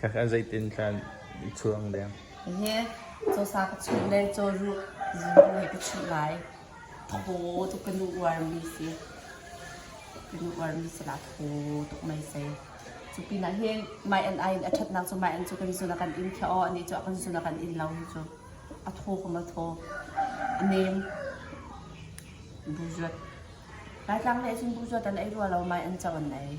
Ka zeitin hlan i chuang deng? Hihi cawsa ka chuh le cawruh zunbu he ka chuh lai. Thaw tuk ka nu uarmi si. Ka nu uarmi silah thaw tuk mei sei. Cu pinah hi mai an ai in a ṭhatnak cu mai an cu kan zun a kan in thiah aw, anih cu a kan zun a kan in lo hi cu. A thaw kum a thaw. A nem. Buzuat. Laitlang nih cun buzuat an ei rua lo, mai an co an ei.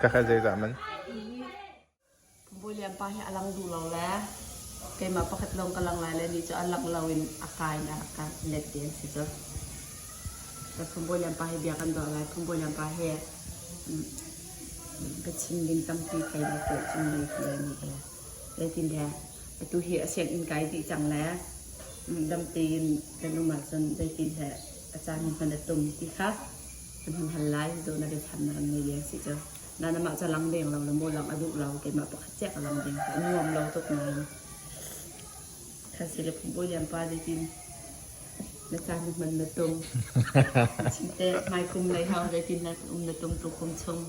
Ka kha zeidah man? Bawilim pa hi a lang duh lo le keimah pakhat lawng ka lang lai le ni cu a lang lo in a kai in a ka let ti an si cu. Ka phung Bawilim pa hi bia kan duah lai. Phung Bawilim pa hi biachim ding tampi thei le tuah chung le ti le ni le zeitin le atu hi a sianginn kai dih cang le dam tein kan um ahcun zeitin le a caan hi hman a tum ti kha kan hun hal lai cu na biachannak an ngei ding si cu na namah ca lang deng lo le maw lang a duh lo keimah pakhat ciah ka lang ding ka nuam lo tuk nain kha si le phungpui lian pa dikin na caan na hman na tum chinte mai kum nei hau dikin na um na tum tu kum chung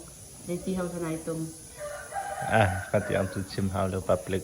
leiti hau sanai tum ah ka ti am tu chim hau le public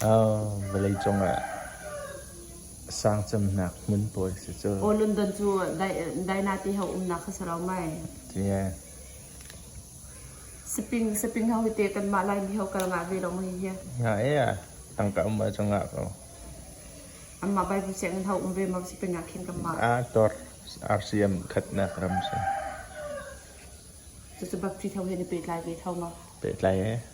Vawlei cungah sangcamnak hmun pawl si cu. Aw London cu dainate ho umnak kha si lo mai. Yeah. Saping saping ho te kanmah lai mi ho kal ngah ve lo mai hi. Nga iya. Tangka um ba cungah ko. Amma Bible si ngan ho um ve ma si penya khin kanmah. A tor RCM khatnak ram si. Cucu bapti tho he ni pe tlai ve tho ma. Pe tlai eh.